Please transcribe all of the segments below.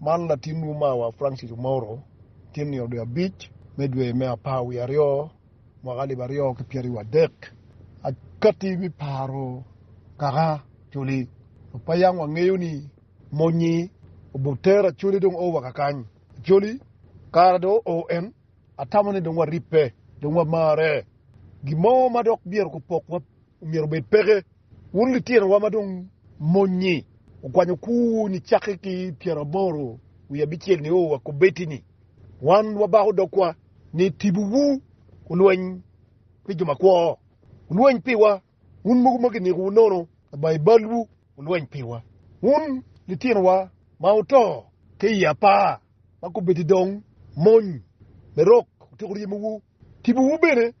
Man latinwu mawa Francis Omouro tye nino dwe abic me dwe me apar wiye aryo mwaka alip aryo ki pyeraryo wadek. Akati me paro kaka Acholi dok pe yam wangeyo ni mony-nyi obutero Acholi dong o wa kakany. Acholi kara dong o en, atamo ni dong waribbe, dong wamarre. Gin mo ma dok myero gupokwa Myero obed peke. Wun litinowa ma dong mony-nyi, wukwanyo kuwu ni cakke ki pyeraboro wiye abicel nio wa kubbetti ni, Wan wabako dogwa ni tibuwu olweny pi jo makwo, wulweny piwa, wun mogo ma kinikowu nono laba i balwu, wulweny piwa. Wun litinowa ma wuto ki i apar ma kubbetti dong mony, me rok otyeko ryemowu Tipowu bene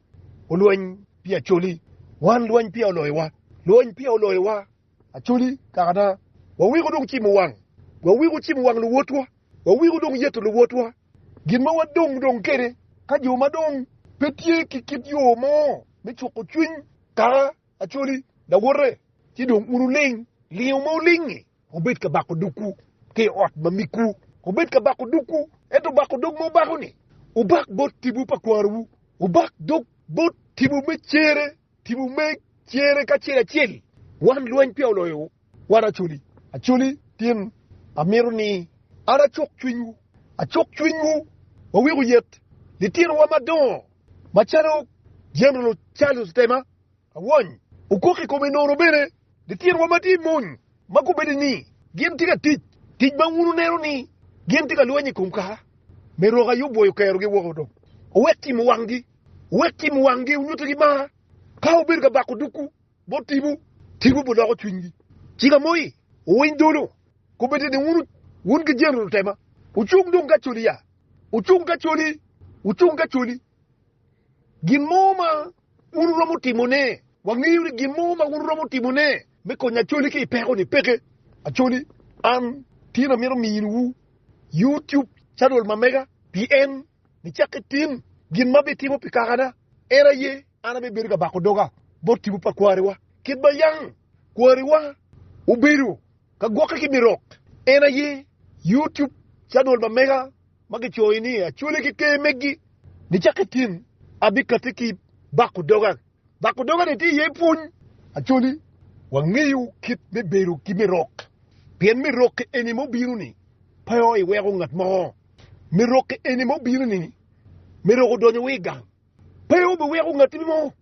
olweny pi Acoli, wan lwany peya oloyowa, lwany peya oloyowa, Acoli kaka na, waweko dong cimo wang, waweko cimo wang luwotwa, waweko dong yeto luwotwa, gin ma wadong dong kwede ka jo ma dong pe tye ki kit yo mo me cuko cwiny kaka Acoli lawote, ci dong un wuling lingo ma wuling-ngi. Wubed ka bako dogwu ki i ot ma migwu. Wubed ka bako dogwu, ento bako dog ma wubako-ni, wubak bot tipo pa kwarowu. Wubak dog bot tipo me cere, tipo me cere kacel acel. Wan lweny peya oloyowu, wan acoli acoli tin. Amito ni an acok cwinywu, acok cwinywu, wawek oyet litinowa madongo macalo Jeneral Charles Temer. Awony okok i kome nono bene litinowa ma tye i mony ma kombeddi ni gin tye ka tic tic ma wun wuneno ni gin tye ka lweny i kom kaka me rok aye obwoyo okerogi woko. Dong wuwek cimo wanggi, wuwek cimo wanggi, wunyutigi mar. Ka wubedo ka bako dukwu bot tipo, tipo biloko cwinygi. Cika moi, wuwiny dolo, kombeddi ni wun, wun ki jeni lutema, wucung dong ka coli ya, wucung ka coli, wucung ka coli. Gin mo ma wun wuromo timone. Wangeyo ni gin mo ma wun wuromo timone me konyo Acholi ki i peko-ni peke. Acholi, an tye ni amito miniwu YouTube canal ma mega pi en nicak ki tim gin ma abitimo pi kakana. En aye an abibedo ka bako doga bot tipo pa kwariwa. Kit ma yang kwariwa obedo ka gwokke ki mirok, en aye YouTube canal ma mega ma gicoyo ni acwali ki ker megi, nicak ki tin abikatti ki bako doga. Bako doga-ni tye iye pwony acwali. Wangeyo kit me bedo ki mirokke, pien mirokke eni ma obino-ni pe iweko ngat mo. Mirokke eni ma obino-ni mirokke odonyo wa i gang. Pe obiweko ngatti mo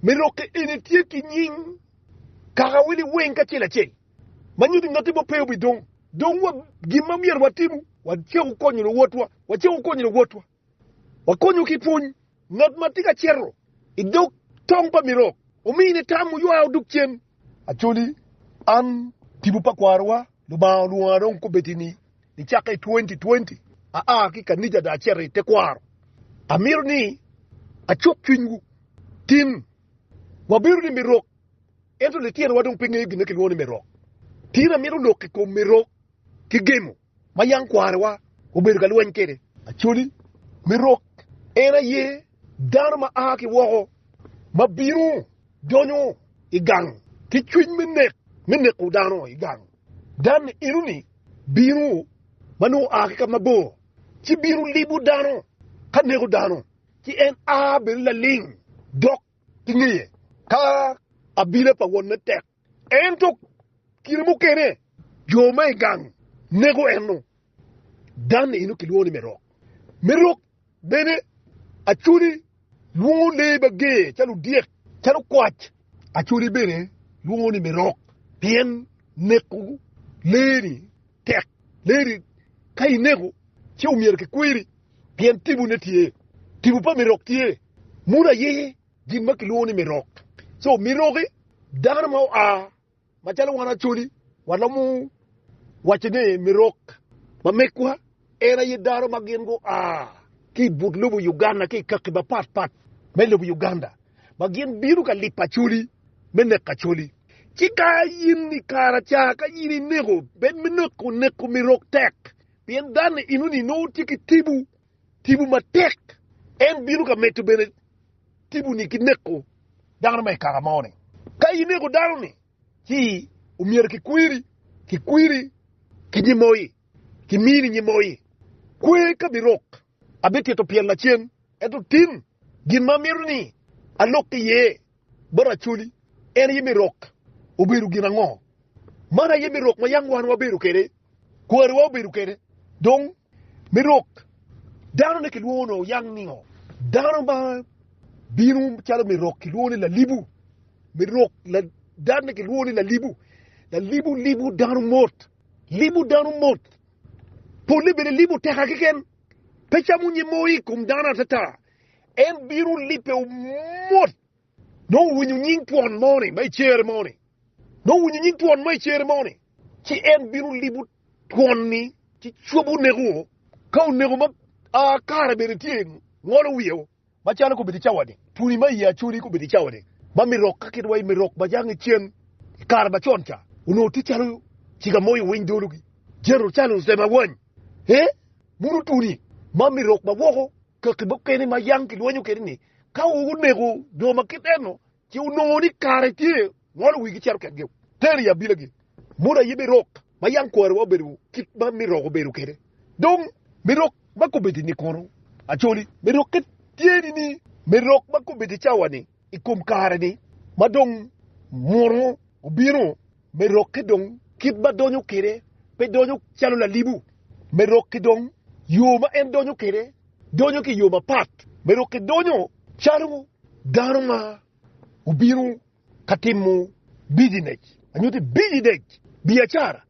me lokke en etye ki nying kaka wel i weng kacel acel, ma nyuto ni ngatti mo pe obidong. Dong wa, gin ma myero watimu, wacako konyo luwotwa, wacako konyo luwotwa, wakonyo ki pwony. Ngat ma tye ka cito i dog tong pa mirok, omine tam, oywa odok cen. Acholi, an tipo pa kwarowa, Lubanga olwonga dong kobedi ni nicakke i twenty twenty aa ki i kanica dong acito i tekwaro. Amito ni acuk cwinywu. Tin, wabedo ni mirok, ento litinowa dong pe ngeyo gin ma kilwongo ni mirok. Tin, amito lok i kom mirok ki gemo. ma yam kwanewa obedo ka lweny kwede. Acholi me rok en aye dano ma a ki woko ma bino donyo i gang ki cwiny me nek, me neko dano i gang. Dan-ni eno-ni bino ma nongo oa ki ka mabor, ci bino libo dano ka neko dano, ci en a bene laling dok ki ngeye ka abila pa wonne tek. Ento kine mukene jo ma i gang nego eno. Dan eno kilwongo ni Merok. Merok bene Acholi lwongo lee ma ger calo odyek, calo kwac. Acholi bene lwongo ni Merok pien neko lee-ni tek. Lee-ni ka inego ci omyero kikwiri pien tibone tye. Tipo pa Merok tye munu aye. gin ma kilwongo ni mirok. So miroki dano ma oa macalo wan Acholi waromo waco ni mirok ma megwa en aye dano ma gin gua ki i but lobo Uganda ki i kaki mapat pat me lobo Uganda ma gin bino ka lipo Acholi me neko Acholi. Ci ka in i kara ca ka in ineko bed me neko, neko mirok tek pien dano-ni enoni nongo tye ki tibu. Tipo matek. En bino ka medo bene tipo-ni ki neko dano ma i kaka mo-ni. Ka ineko dano-ni, ci omyero kikwiri, kikwiri ki nyemoyi, kimini nyemoyi. Kwe ka birok. Abitito pyel lacen, ento tim gin ma amito ni alok iye bot Acholi. En aye me rok obedo gin ango? Man aye me rok ma yam wan wabedo kwede Kwariwa obedo kede dong me rok dano ne kilwongo nongo yang ningo dano ma bino calo me rok kilwongo ni lalibu me rok dad ne kilwongo ni lalibu lalibu libu dano mot libu dano mot pole bene libu teka kiken pe camo nyim mo i kom dano atata en bino lipe mot Dong owinyo nying twon moni ma i cere moni. Dong owinyo nying twon ma i cere moni. Ci en bino libo twon-ni ci cobo oneko-o. Ka oneko ma kare bene tye, ngolo wiye-o. Macalo kobedi i cawa-ni, twoni ma i Acholi kobedi i cawa-ni, ma mirok ka kit wa i mirok ma jang icen i kare macon ca, onongo tye calo ciga mo i owiny dolo-gi, Jerucalem owany, ee, muno twoni ma mirok ma woko. Kaki mukene ma yam kilwonyo kede ni ka wuneko jo ma kit eno ci wunongo ni kare tye, ngolo wigi cito ketgi, tero i abilagi, muto aye me rok ma yam kwariwa obedo kit ma me rok obedo kede. Dong, me rok ma kobedi ni kono? Acholi, me rok-ke tye ni ni me rok ma kobedi cawa-ni. i kom kare-ni ma dong munu obino, me rokke dong kit ma donyo kwede pe donyo calo lalibu, me rokke dong yo ma en donyo kwede donyo ki i yo mapat, me rokke donyo calo dano ma obino ka timo bijinec, nyo te bijinec biacara.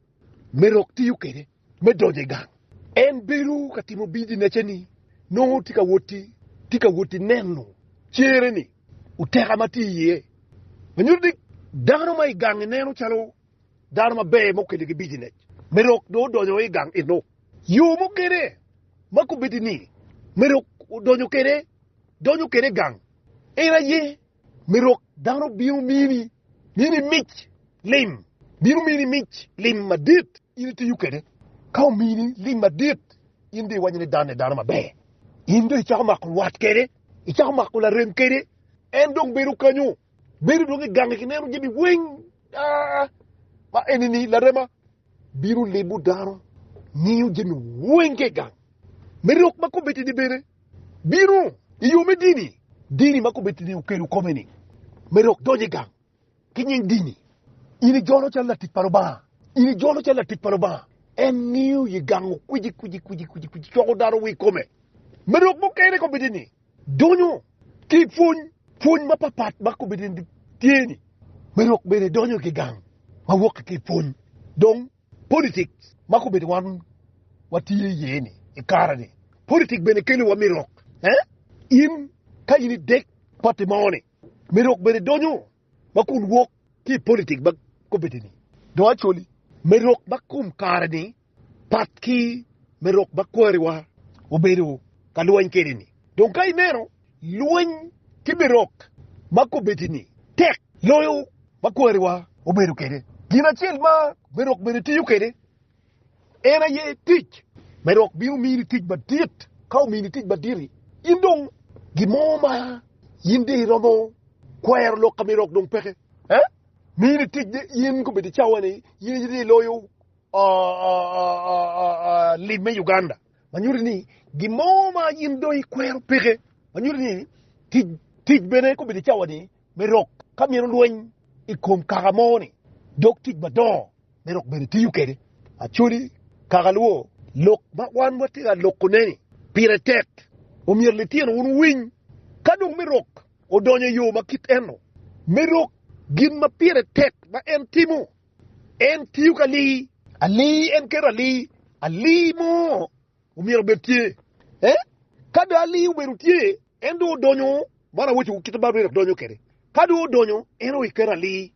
me rok tiyo kwede me donyo i gang. En bedo ka timo bijinecce ni nongo tye ka woti neno cere ni oteka ma tye iye ma nyuto ni dano ma i gang-nge neno calo dano maber ma okelle ki bijinec me rok dong odonyo i gang eno. Yo mukene ma kombeddi ni me rok odonyo kwede donyo kwede i gang en aye me rok dano bino mini Mini mic lim. Bino mini mic lim madit, in itiyo kwede. Ka omini lim madit, in dong iwaco ni dan-ni dano maber. In dong icako mako lwat kwede, icako mako larem kwede. En dong bedo kanyo, bedo dong i gangi ki neno jami weng. Aa, ma eni-ni larema bino libo dano, ngiyo jami weng ki i gang. Me lok ma kobbe-ti-ni bene, bino i yo me dini, dini ma kobeddi ni okelo kome-ni me dok donyo i gang ki nying dini. In ijolo calo latic pa Lubanga, in ijolo calo latic pa Lubanga. En ngiyo i gang okwici kwici kwici kwici kwici coko dano wi kome me dok mukene kobeddi ni donyo ki i pwony pwony mapat pat ma kobeddi ni tye-ni me dok bene donyo ki gang ma wok ki i pwony dong Politik ma kobedo wan watye iye ni i kare ni politik bene kelo wa mirok eh in ka in idek party mo ni mirok bene donyo ma kun wok ki i politik ma kobedo ni dong actually mirok ma kom kare ni pat ki mirok ma kwariwa obedo ka lweny kwede ni dong ka ineno Lweny ki birok ma kobedini tek loyo ma kwariwa obedo kwede, gin acel ma birok bene tiyo kwede en aye tic. Birok bino mini tic madit, ka omini tic madit-ti, in dong gin mo ma in dong iromo kwero lok ka birok dong peke. Mini tic ni in kobedi cawa-ni in aye iloyo lim me Uganda. ma nyuto ni gin mo ma in dong ikwero peke, ma nyuto ni tic, tic bene kobedo cawa-ni me rok ka mino lweny i kom kaka mo-ni, dok tic madongo me rok bene tiyo kwede. Actually, kaka lubo lok ma wan watye ka lokone-ni pire tek, omyero litino wun wuwiny. Ka dong me rok odonyo i yo ma kit eno, me rok gin ma pire tek ma en timo. En tiyo ki ali ali, en keto ali ali mo omyero obed tye. Eh, ka dong ali obedo tye, en dong odonyo, man awaco kit ma Baibul eno donyo kwede. Ka dong odonyo, en dong iketo ali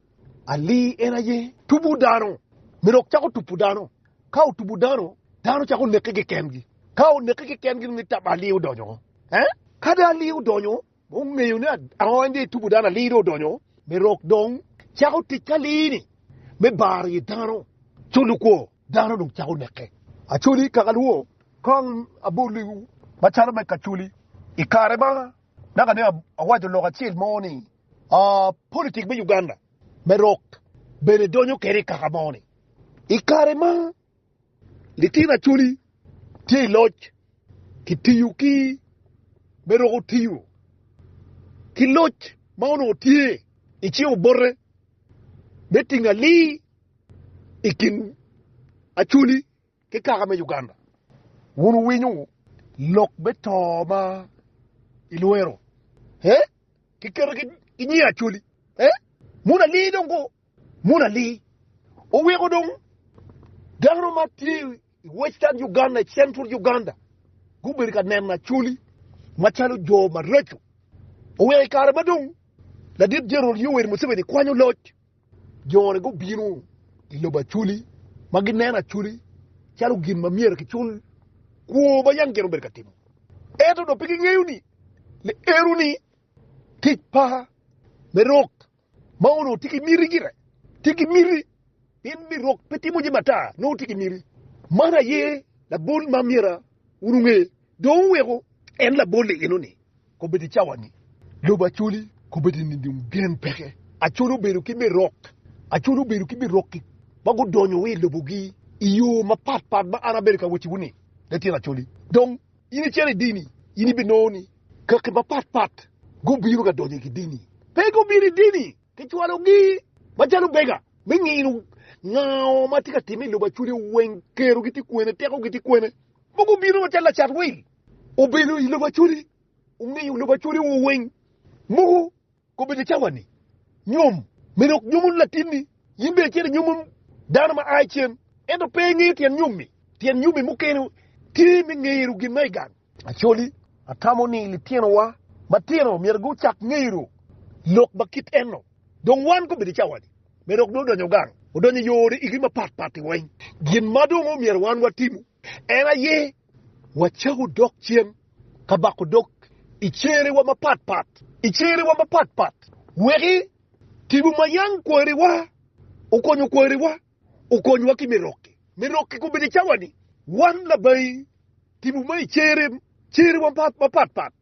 ali, en aye tubo dano, me dok cako tubo dano. Ka otubo dano, dano cako neke kikengi. Ka oneke kikengi, nongo ali odonyo. Eh, ka dong ali odonyo, Wungeyo ni aony dong etubo dano, alii dong odonyo me rok, dong cako tic ki alii-ni me baro i dano, culu kwo dano dong cako neke. Acoli kakalwo kong aboliwu macalo me kacoli i kare ma naka ni awaco lok acel mo ni, Politik me Uganda me rok bene donyo kede i kaka mo ni, i kare ma. Litino Acholi tye i loc kitiyo ki me roko tiyo ki loc ma onongo tye i cing obote me tingo alii i kin Acholi ki kaka me Uganda. Wun wuwinyo lok me to ma ilwero ee kiketo ki nyi Acholi ee? Mono alii dong Murali oweko dong dano ma tye i Western Uganda, i Central Uganda gubedo ka neno Acholi macalo jo maraco. Oweko i kare ma dong Ladit Jeneral Yoweri Museveni kwanyo loc, jo-ni gubino i lobo Acholi ma gineno Acholi calo gin ma myero kicul kwo ma yam gin obedo ka timo. Ento dong pe gingeyo ni liero-ni tic pa me rok. Ma onongo tye ki miti gire. Tye ki miti in mi rok pe timo jami ata nongo tye ki miti. Man aye labol ma myero wun wunge. Dong wuweko en labol i eno-ni kobed i cawa-ni. Lobo Acholi kobed i nining? Gen peke. Acholi obedo ki me rok. Acholi obedo ki me rok ma gudonyo wa i lobogi i yo mapatpat ma an abedo ka wacciwu-ni, Latin Acholi. Dong. In icito i dini, in ibinongo ni kaki mapat pat gubino ka donyo i dini. Pe gubino i dini ki cwalogi macalo bega me ngino nga ma tye ka timme i lobo aculia, weng kerogi tye kwene, tekogi tye kwene. Pe gubino macalo lacat wil, obino i lobo acoli, ongiyo lobo acoli-wu weng muku. Kobedo cawa-ni, nyom. Me dok nyomo latinni, in bene icito inyomo dano ma a i cen, ento pe ingeyo tyen nyom-mi. Tyen nyom-mi mukene tye me ngero gin ma i gang. Actually, atamo ni litinowa matino myero gucak ngero lok ma kit eno. Dong wan kobedo cawa-ni, me dok dong odonyo gang, odonyo i yore igi mapatpat-ti weng. Gin ma dong omyero wan watimo. En aye wacako dok cen ka bako dog i cerewa mapat pat, i cerewa mapat pat, weki tibu ma yam kwariwa okonyo kwariwa okonywa ki me rokke, me rokke kobedi cawa ni wan labayi tibu ma i cere, cerewa mapat pat.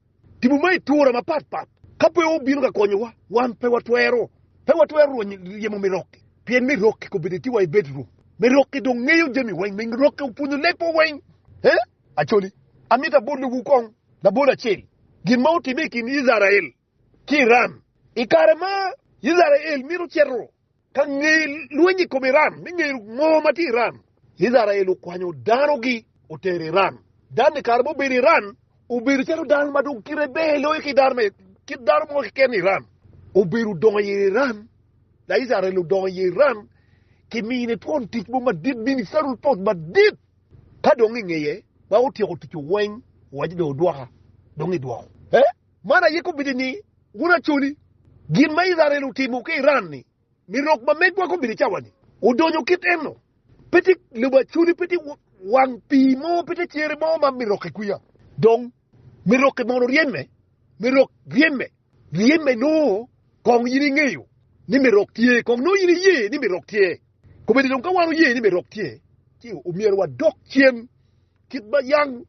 Tipo ma itura mapat pat ka pe obino ka konyowa, wan pe watwero pe watwero rwonyo ryemo me rok-ki, pien me rok-ki kobedi eti wa ibed ruk me rok-ki dong ngeyo jami weng me rok-ki opwonyo leb wa weng. He, Acholi, amito abolowu kong labol acel, gin ma otimme i kin Icrael ki Iran i kare ma Icrael mito cito. Ka nge lweny i kom Iran me ngeyo ngo ma tye i Iran, Icrael okwanyo danogi otero Iran. Dano i kare ma obedo i Iran obedo calo dano ma dong kite ber loyo ki dano me kit dano mo keken i Iran. Obedo odongo i Iran, Laicrael odongo i Iran ki mine twon tic mo madit, ministerial post madit. Ka dong ingeye ma otyeko ticce weng, owaco dong odwoka, dong idwoko. Man aye kombeddi ni wun acoli. Gin ma Icrael otimo ki Iran-ni, ni rok ma megwa kombeddi cawa-ni odonyo kit eno. Pe tye lobo acoli, pe tye wang pii mo, pe tye cere mo ma mi rokke kwiya. Dong, mi rokke mono ryeny me, mi rok ryeny me, ryeny me nongo kong in ingeyo ni mi rok tye, kong nongo in iye ni mi rok tye. Kombeddi dong ka wan oye ni mi rok tye, ci omyero wadok cen. kit ma yang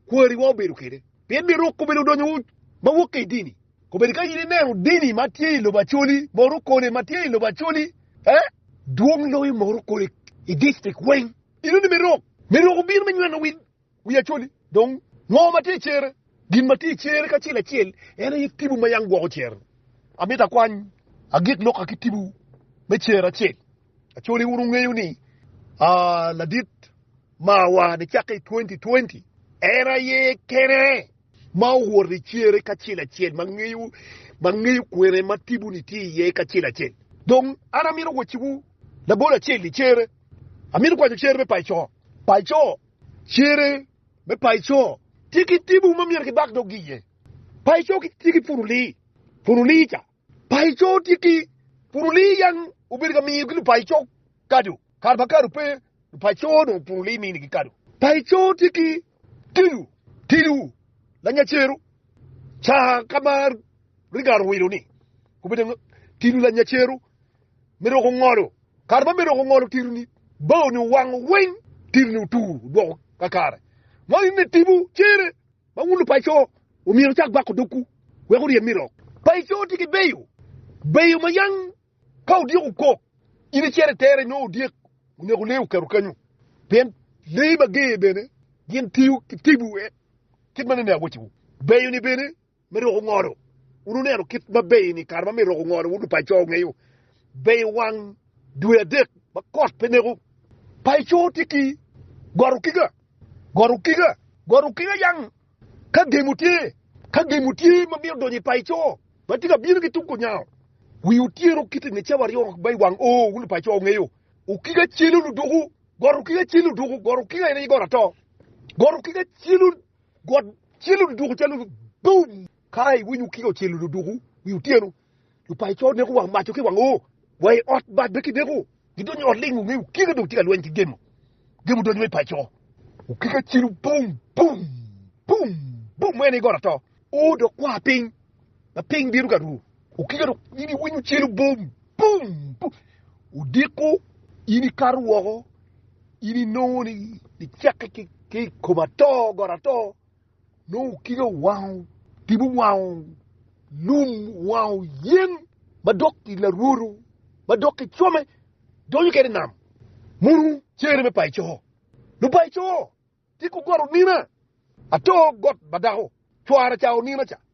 kwariwa obedo kwede, pien ni ruk kobedo odonyo ma wokke i dini. Kobedo ka in ineno dini ma tye i lobo Acholi, moto kone ma tye i lobo Acholi, eh? Dwong loyo moto kone i distrik weng. Ino ni me ruk, me ruk obino me nyweno wi, wi Acholi. Dong, ngo ma tye i cere? Gin ma tye i cere kacel acel en aye tibu ma yang gwoko cere. Amito akwany agik loka ki tibu me cere acel. Acholi wun wungeyo ni, ah, ladit Mawa nicakke i 2020, en aye kene ma owoto i cere kacel acel ma ngeyo kwene ma tibuni tye iye kacel acel. Dong an amito wacciwu labol acel i cere. Amito kwanyo cere me paco. Paco, Cere me paco tye ki tibu ma myero kibak doggi iye. Paco tye ki puruli. Puruli ca Paco tye ki, pud olii yan obedo ka miyo ki lupaco kado, kare ma kado pe lupaco dong pud olii mini gi kado. Paco tye ki, tilu, tilu, lanya cero, caa ka ma Rigara owilo ni, obedo nga, tilu lanya cero, me roko ngolo, kare ma me roko ngolo tilu ni, bao ni owango weng, tilu ni otur odwoko kakare, ma in me tibu cere. Ma wun lupaco, omyero wucak bako dogwu, wek wuryen mi lok. Paco tye ki beyo beyo ma yang ka odyeko kok, in icito itere nyo odyek oneko lee okato kanyo, pien lee mager bene gin tiyo ki tibu kit ma nene awacciwu. Beyo-ni bene me roko ngodo, wun wuneno kit ma beyo-ni kare ma myero roko ngodo, wun lupaco wungeyo beyo wang dwe adek ma kot pe neko. Paco tye ki got okiga, got okiga, got okiga yang ka gemo tye, ka gemo tye ma mito donyo i paco ma tye ka bino ki tung kunyango. Wi otyeno kiti nge cawa aryo ma i wang oo wun lupaco wungeyo okiga celu luduku, got okiga celu luduku, got okiga en aye got ato, got okiga celu, got celu luduku calo boom ka iwinyo okiga ocelo luduku wi otyeno. Lupaico neko wang maco ki wang oo, wa i ot bad be kineko. Gidonyo i ot ling wunge okike dong tye ka lweny ki gemo. Gemo donyo i paico. Okike cilo bum bum bum bum en aye got ato oo dok kwa piny ma piny bino ka ru. Okike dong in iwinyo cilo bum bum bum odiko in ikato woko in inongo ni icake ki i kom ato got ato. Nongo kika owango tipo, owango lum, owango yen ma dok i larwoto ma dok ki cwome donyo kede i nam. Munu cere me paco, lupaco ti ku got onina, ato got ma dako cwara ca onina ca.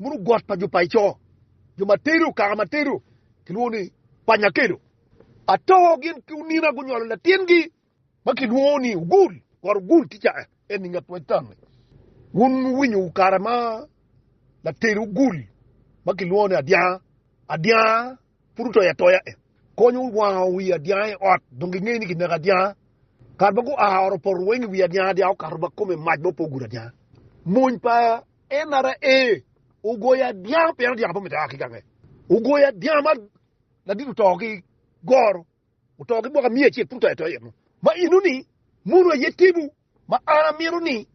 Bunu got pa jo paico, jo ma tedo, kaka ma tedo kilwongo ni panya kelo. Ato gin ki onina gunyolo latingi ma kilwongo ni ogul, got ogul tica en i nget wectanni. Wun wuwinyo kare ma latedo ogul ma kilwongo ni adyanga, adyanga pud otoyo atoya e, konyo wango wi adyanga i ot, dong gingeyo ni kineko adyanga. Kare ma gua oro poto weng i wi adyanga, adyanga okato ba kome mac ma opo ogudo adyanga. Mony pa Enara ee, ogoyo adyanga pien adyanga pe omito a ki gange, ogoyo adyanga ma ladit oto ki goro, oto ki mwaka miya acel pud to ato eno. Ma eno ni mono aye timo ma an amito ni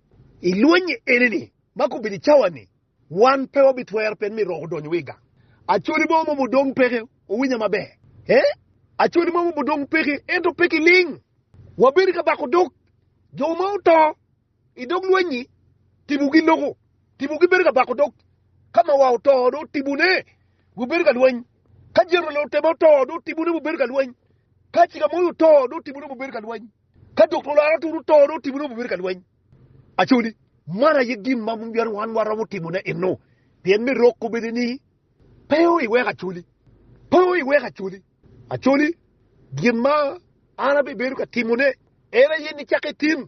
i lwenye eni ni ma ka obedo i cawa ni wan pe wabitwero pien myero rok odonyo wa i gang. Acholi mo momo dong peke, wuwinya maber ee, acholi mo momo dong peke ento pe kiling, wabedo ka bako dog jo ma oto. I dog lweny-nyi, tibogi loko, tibogi bedo ka bako dog. Ka mawa oto, dong tibone gubedo ka lweny. Ka Jeruel otema oto, dong tibone gubedo ka lweny. Ka Cikamoyo oto, dong tibone gubedo ka lweny. Ka Doktor Laratur oto, dong tibone gubedo ka lweny. Actually, man aye gin ma myero wan waromo timone enno, pien me rok kobedi ni, Pe o iwek acoli, pe o iwek acoli. Actually, gin ma an abibedo ka timone en aye ni cak itim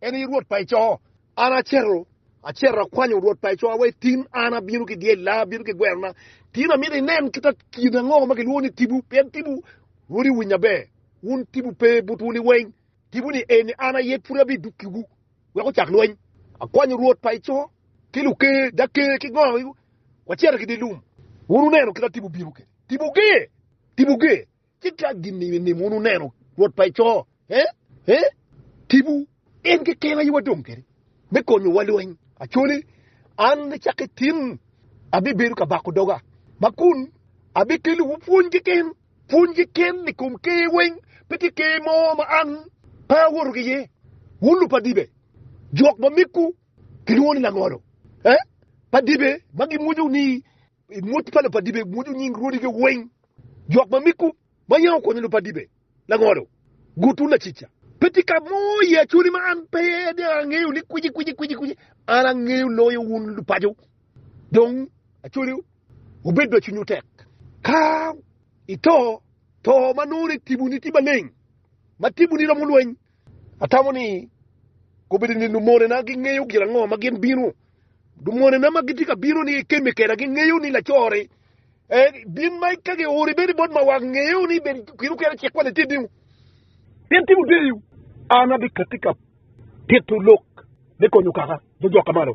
En aye Rwot pa i coo. An aceto, aceto akwanyo Rwot pa i coo awe tin, an abino ki dyel na, abino ki gweno na. Tin amito inen kita kin ango ma kilwongo ni tibu, pien tibu, Rwot iwiny aber, wun tibu pe butwu liweny, tibu ni eni an aye pud abi duki wu wek ocak lweny. Akwanyo Rwot pa i coo ki luker, jaker ki gongo gi, waceto ki dye lum. Wun wuneno kita tibu bino kede, tibu ger, tibu ger. Ci ka gin i nim wun wuneno Rwot pa eco, eh, eh, tipo, en keken aye wadong kede me konyo wa lweny. Acoli, an me cak ki tin abi bedo ka bako doga, ma kun abi kelo wu pwony keken, pwony keken i kom ker weng, pe ki ker mo ma an pe awoto ki iye. Wun lub pa dibe, jok ma miggu ki lwongo ni langolo, eh, pa dibe ma gi mwonyo ni, I mot pa Lupadibe mwodo nying rwodige weng, jok ma miko ma yam okonyo Lupadibe, Langolo, Gutu, Lacica. Pe tye ka mo i Acholi ma an pe iye, dong angeyo ni kwici kwici kwici kwici an angeyo loyo wun Lupaco. Dong Acholi wubed ma cwinywu tek. Ka ito, to ma nongo ni tibuni tye maleng, ma tibuni romo lweny, Atamo ni kobedo ni lumonena gingeyo gin ango ma gin bino. Lumonena ma gitye ka bino ni kemme keda gingeyo ni lacore en bin ma ka giori bene bot mawak ngeyo ni bed kit okene cik kwani tye dingu. Pien timo deyo, an abikatti ka tito lok me konyo kaka jo jok ka malo.